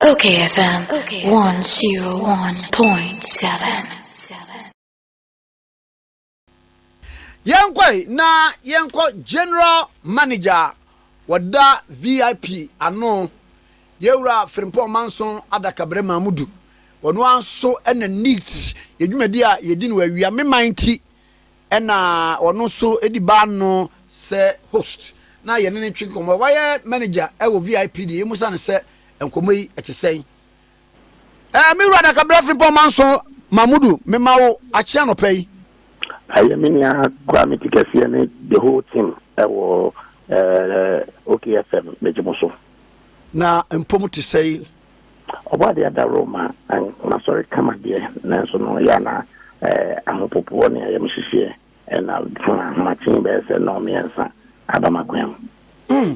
Okay FM 101.7 yɛnkɔe na yɛnkɔ general manager a wɔda vip ano yɛwura frimpɔn manson adakabrɛ mamudu wɔn ara nso na neat yɛ dwumadi a yɛdi no awia me man ti Ɛna ɔno nso di baa ano sɛ host na yɛne no twe nkɔmmɔ. Wayɛ manager wɔ VIP deɛ yɛmmu sa no sɛ nkɔmmɔ yi ɛte sɛn. Ɛɛ me wura Dakabra Frimpong Manso Mahmudu mema wo akyea anɔpa yi. Ɛyɛ me nua Kwame Tikɛseɛ ne the whole team ɛwɔ ɛɛ OK FM megye mo so. Na mpo mo te sɛn. Ɔbɔadeɛ ada Roma n'asɔre kama deɛ, nanso no yɛ a na ahopopoɔ ne ayamhyehyeɛ na fama ahomakye bɛyɛ sɛ nnɔɔmmiɛnsa aba m'akwan mu. Hmm.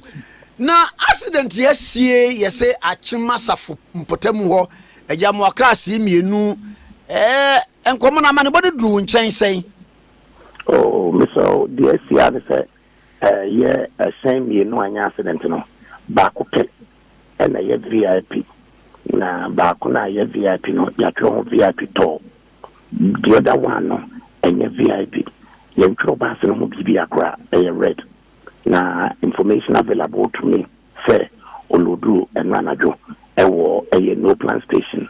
Na accident yi asie yɛ se Akyem asafo mpɔtamu hɔ agya moa cars yi mmienu ɛɛ nkɔmɔ no amanebɔ no duru wo nkyɛn sɛn? Oh, mesɛ o, deɛ asie a ne sɛ ɛyɛ ɛhyɛn mmienu anyɛ accident no, baako pɛ na ɛyɛ VIP na baako no a ɛyɛ VIP no yɛatwerɛ ho VIP tall. The other one no ɛnyɛ VIP. Yɛntwerɛ baase no ho biribi a koraa ɛyɛ red. Na information available to me sɛ ɔlooduu ɛno anadwo ɛwɔ ɛyɛ no plan station.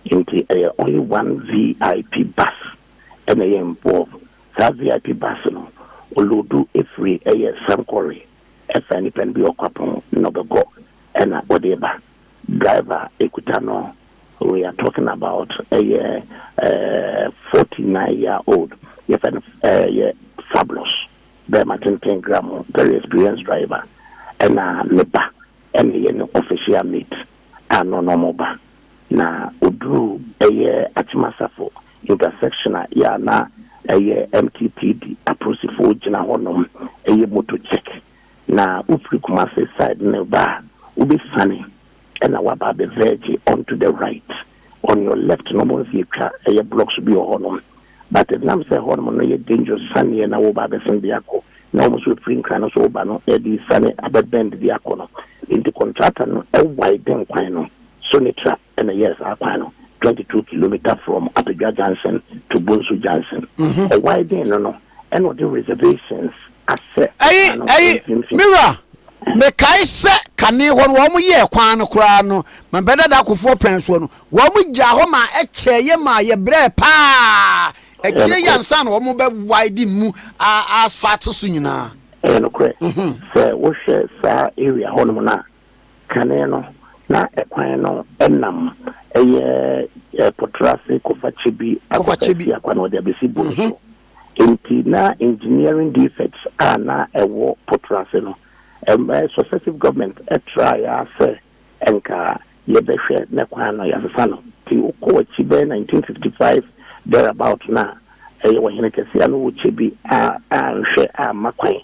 Nti ɛyɛ only one VIP bus ɛna ɛyɛ involve. Saa VIP bus no ɔloodu ɛfiri ɛyɛ Sankore. Ɛfɛ nipa no bi wɔ kwapɔn na ɔbɛkɔ ɛna ɔde reba. Driver a ekuta no we are talking about ɛyɛ ɛɛ forty nine year old yɛfɛ no ɛyɛ Fabulous bɛɛma tenten gramo very experienced driver ɛna ne ba ɛna ɛyɛ ne official mate a na ɔnam ba, na ɔduruu ɛyɛ Akyem-Asafo intersection a yɛ a na ɛyɛ MTPD apolisifoɔ gyina hɔ nom yɛ motor check, na wofiri Kumasi side no reba a, wobɛsiane na waba abɛvɛɛgye onto the right. on your left na ɔmo nsi atwa ɛyɛ blocks bi wɔ hɔ nom but ɛdenam sɛ ɛhɔ nom no yɛ dangerous saneɛ na woba abɛsen de akɔ na ɔmo nso ɛfiri nkran no so woba no ɛde sane abɛ bend de akɔ no nti contractor no ɛwiden kwan no Sonetra ɛna ɛyɛɛ saa kwan no 22 kilometer from Apadwa junction to Bonsu junction ɔwiden no no ɛna ɔde reservations asɛ Ayi, kwan no ayi, mfimfini. me wura, mekae sɛ kane hɔ no wɔn yɛɛ kwan no koraa no ma bɛdada akofoɔ pɛn soɔ no, wɔn gyaa hɔ ma ɛkyɛɛ yɛ maa yɛ brɛɛ paa akyire yi ansa na wɔn bɛ widen mu a asphalt so nyinaa. Ɛyɛ nokorɛ, sɛ wohwɛ saa area hɔ nom no a, kane no na ɛkwan no nam ɛyɛ Potrase kɔfa Kyebi akɔfa Asiakwa na wɔde abɛsi Bono so. Enti na engineering defects a na ɛwɔ Potrase no, ɛma successive government trae ara sɛ ɛnka yɛbɛhwɛ na kwan no yɛasesa no. Nti wokɔ akyi bɛyɛ 1955 there about no a, ɛyɛ ɔhene kɛse a na ɔwɔ kyɛ bi a anhwɛ amma kwan.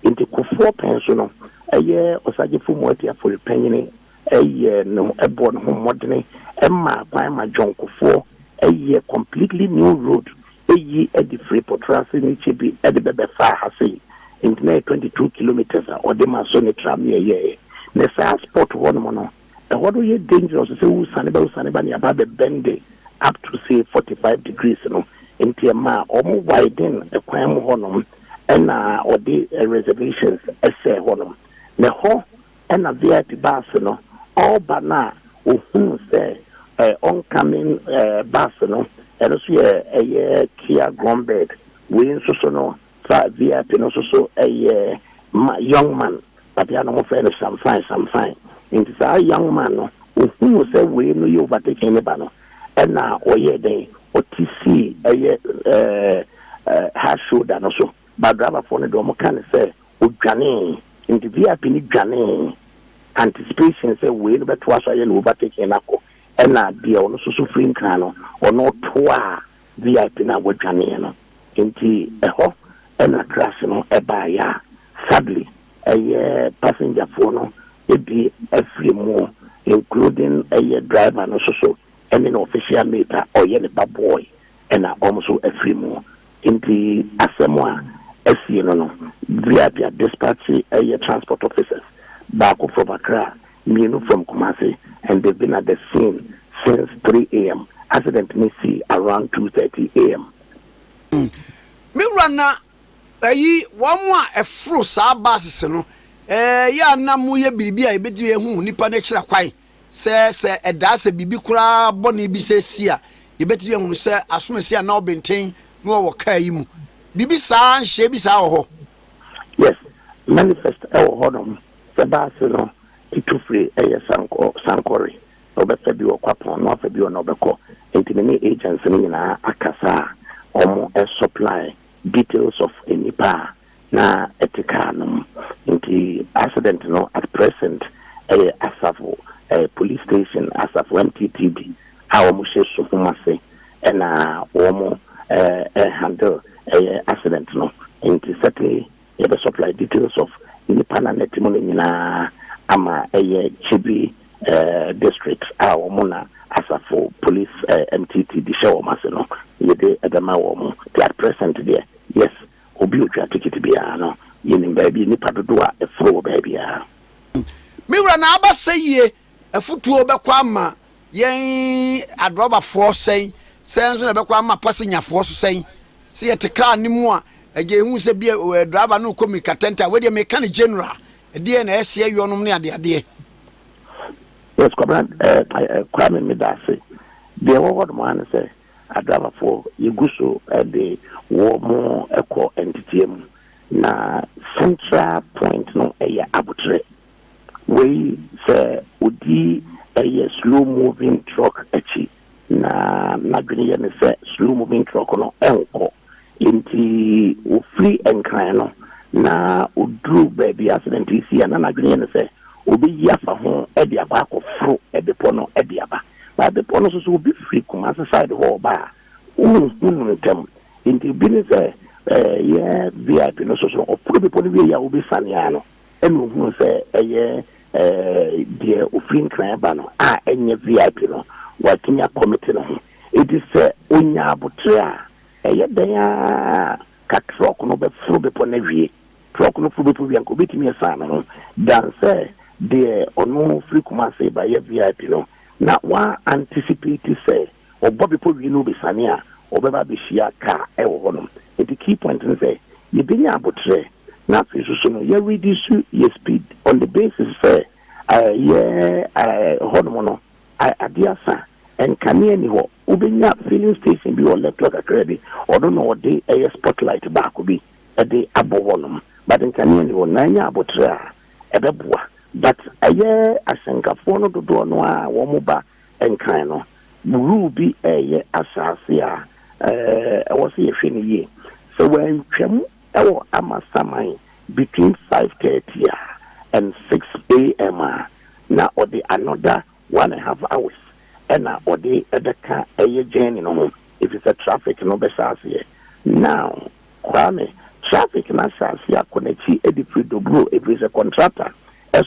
Enti Kufuor pɛn so no, ɛyɛ Osagyefo Moati Afori panyini. yɛ ne ho bɔ ne ho mmɔdene ma kwan ma Jɔnkofoɔ yɛ completely new road yi de firi Potrase ne Kyebi de bɛbɛ faa ha sei nti na yɛ 22 kilometres a ɔde ma so ne tram ne ɛyɛɛ ne saa spot hɔ nom no ɛhɔ no yɛ dangerous sɛ wo sane ba wo sane ba ne aba bɛ bɛnde up to say 45 degrees no nti ɛma ɔmo widen kwan mu hɔ nom ɛna ɔde reservations ɛsɛ hɔ nom na hɔ Ɛna VIP baase no ɔɔba no a ohunu sɛ ɛ oncoming ɛ bus no ɛno nso yɛ ɛyɛ tia grombed wei nso so no fa VIP no nso so ɛyɛ ma young man babea no wɔfrɛ no shamfine shamfine nti saa young man no ohunu sɛ wei no yɛ overtaking ne ba no ɛna ɔyɛɛ dɛn ɔte sii ɛyɛ ɛ ɛ hard shoulder no so ba driver foɔ no deɛ wɔn ka ne sɛ Odwanee, nti VIP no dwanee, anticipation sɛ wei no bɛtoa so ayɛ ne overtaking no akɔ, ɛna deɛ ɔno nso so firi Nkran no, ɔno toaa VIP no a wadwanee no. Nti ɛhɔ na crash no baeɛ a sadly ɛyɛ passenger foɔ no bi afiri mu including ɛyɛ driver no nso so ɛne ne official mate a ɔyɛ ne ba boy ɛna wɔn nso afiri mu. Enti asɛm a asie no no Duabia Dispatche yɛ transport officers, baako from Accra, mmienu from Kumasi and they've been at the scene since three am, accident no sii around two thirty am. Me wura na ayi wɔn a ɛforo saa buses no, ɛɛ yɛ a na mo yɛ biribi a yɛbɛtumi ahu nipa no akyira kwan. Sɛ sɛ ɛdaa sɛ biribi koraa bɔne bi sɛ si a, yɛbɛtumi ahunu sɛ asomasi a na ɔbenten na ɔwɔ kaa yi mu. Biribi saa, nhyehyɛe bi saa wɔ hɔ? Yes, manifest wɔ hɔ nom. Sɛ baase no tu firi ɛyɛ sankɔ sankɔre, na ɔbɛfa bi wɔ kwapɔn na wafa bi wɔ na ɔbɛkɔ. Nti me ne agents no nyinaa akasa a wɔn supply details of nnipa a na ɛte car no mu. Nti accident no at present ɛyɛ Asafo eh, Police Station, Asafo MTTD a wɔn hyɛ Suhum ase ɛna wɔn eh, eh, handle ɛyɛ accident no. Nti sɛte yɛbɛ supply details of nipa na nɛte mu no nyinaa ama ɛyɛ Kyebi eh, district a wɔn na Asafo Police eh, MTTD hyɛ wɔn ase no yɛde ɛbɛma wɔn. Nti at present deɛ yes. Obi a otwa tikiti biara no, yenim baabi nnipa dodow a ɛforo wɔ baabiara. Me wura na aba sɛ yie afutuo bɛkɔ ama yɛn adrɔbafoɔ sɛn, sɛn nso na ɛbɛkɔ ama pasenyafoɔ so sɛn. Sɛ yɛte car no mu a, agya yɛhu sɛ bia driver no rekɔ mirika tɛntɛ a, wei deɛ meka no general, ɛdeɛn na ɛsi ɛyɔ nom ne adeadeɛ. Yes, Kwabena, eh, eh, Kwame, meda ase. Deɛ ɛwɔ hɔ nom ara ne sɛ, Adrabafoɔ, Yɛgu so de wɔn kɔ nteteɛ mu, na central point no yɛ aboterɛ. Wei, sɛ ɔdi ɛyɛ slow moving truck akyi, na n'adwene yɛ no sɛ slow moving truck no nkɔ. Enti ɔfiri Nkran no na ɔduru baabi a accident yi sii a, na n'adwene yɛ no sɛ ɔbɛyi afa ho de akɔ akɔforo bepɔ no de aba. But bepɔ no so sɛ obi firi Kumasi side hɔ ɔba a, wonhu no ntɛm. Nti bi ne sɛ eh, yɛn VIP no so so ɔforo bepɔ no wieɛ a wobɛsiane ara no ɛna ohunu sɛ ɛyɛ eh, deɛ ofiri Nkran ba no a ɛnyɛ VIP no, watumi akɔmete ne ho. Nti sɛ onya abotere a, ɛyɛ dɛn ara ka truck no bɛforo bepɔ no awie. Trɔk no foro bepɔ bi anka obetumi asan ne ho dan sɛ deɛ ɔno firi Kumasi ba yɛ vip no na wa anticipate sɛ ɔbɔ bepɔ wie na obesane a ɔbɛba abehyia car ɛwɔ hɔ nom nti key point ne sɛ yɛbɛnya aboterɛ na afei nso so no yɛ reduce yɛ speed on the basis sɛ yɛ hɔ nom no adeɛ asa nkanea ni hɔ wobɛnya filling station bi wɔ left hɔ kakra bi ɔno na ɔde ɛyɛ spotlight baako bi. de abɔ hɔ nom but nkanea ni hɔ na anya aboterɛ a ɛbɛboa but ɛyɛ asɛnkafoɔ no dodoɔ no ara a wɔn ba nkran no rule bi ɛyɛ asaase a ɛwɔ sɛ yɛhwɛ no yie sɛ wɔantwam ɛwɔ amasaman between 5:30 a and 6 am a na ɔde another One half hours na ɔde bɛka ɛyɛ journey no ho efisɛ traffic no bɛhyɛ aseɛ now Kwame traffic no ahyɛ aseɛ akɔ n'akyi de firi Dobro efisɛ contractor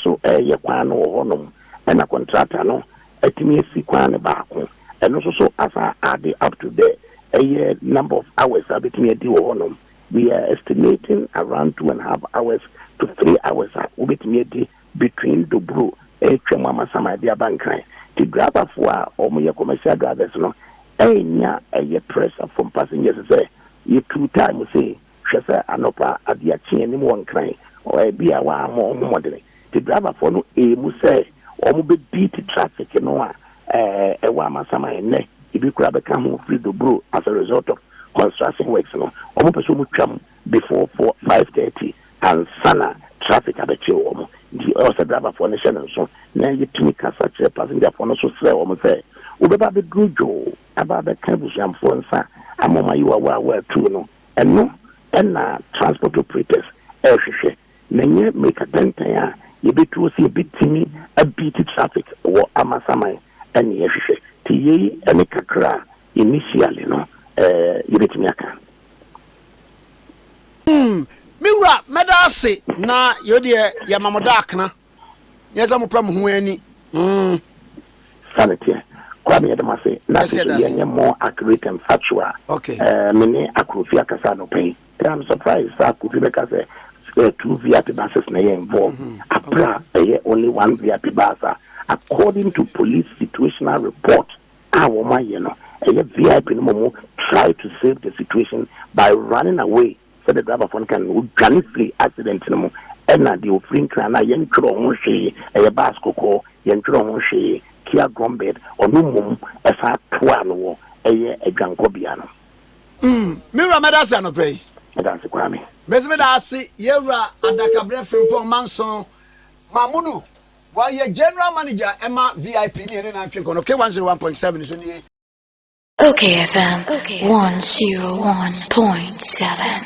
so reyɛ kwan no wɔ hɔ nom na contractor no atumi asi kwan no baako ɛno nso so asan ade up to the ɛyɛ number of hours a bɛtumi adi wɔ hɔ nom we are estimating around two and half hours to three hours a wobɛtumi adi between Dobroo retwa mu ama Samai de aba Nkran nti driverfoɔ a wɔyɛ commercial drivers no nnya ɛyɛ pressure from passengers sɛ yɛtuu time sei hwɛ sɛ anɔpa adea kye anim wɔ Nkran ebia wɔammɔ wɔn ho mmɔdene nti driverfoɔ no remu sɛ wɔbɛbeat traffic no a ɛwɔ ama Samai nnɛ ebi koraa bɛka ho firi Dobroo as a result of construction works no wɔpɛ sɛ wɔtwam before four five thirty ansa na traffic abɛkye wɔn nti ɛwɔ sɛ driverfoɔ no hyɛ no nso na yɛtumi kasa kyerɛ passengerfoɔ no nso srɛ wɔn sɛ wobɛba abɛduru dwoo aba abɛka abusuamfoɔ nsa ama wɔn ayi wawa a wɔatu no ɛno na transport operators ɛrehwehwɛ na ɛnyɛ mmirika tɛntɛn a yɛbɛtuo sɛ yɛbɛtumi abeat traffic wɔ Amasaman ɛne yɛhwehwɛ nti yei ne kakra a Initially no, eh, yɛbɛtumi aka. Mm, me wura, mɛda ase, na yɛo deɛ yɛma mo daakena, nyɛ sɛ mopɛ mo ho ani. Mm. Saa ne teɛ. Kora me yɛda mo ase, na afei so yɛnyɛ more accurate and factual. Okay. Eh, me ne Akrofi akasa anɔpa yi. Eh, I'm surprised sɛ Akrofi bɛka sɛ eh, two VIP buses na ɛyɛ involved. Mm -hmm. Apra ɛyɛ only one VIP bus a according to police situational report a wɔn ayɛ no ɛyɛ vip no mɔmɔ try to save the situation by running away sɛ the driver fɔ no kan no ɔdwane firi accident no mu ɛna deɛ ɔfiri nkran no a yɛn twerɛ ho hwee ɛyɛ bus kɔkɔɔ yɛn twerɛ ho hwee kia drumbed ɔno mmom ɛsan toa no wɔ ɛyɛ adwankɔ bea no. Mm me wura mɛda ase anɔpɛ yi. Mɛda ase kwaa me. Mɛsi mɛda ase yɛwura adakabrɛ frimpɔn manson mamudu Wayɛ General Manager ma VIP ne yɛne no atwe nkɔnɔ K one zero one point seven so nie. Ok FM one zero one point seven.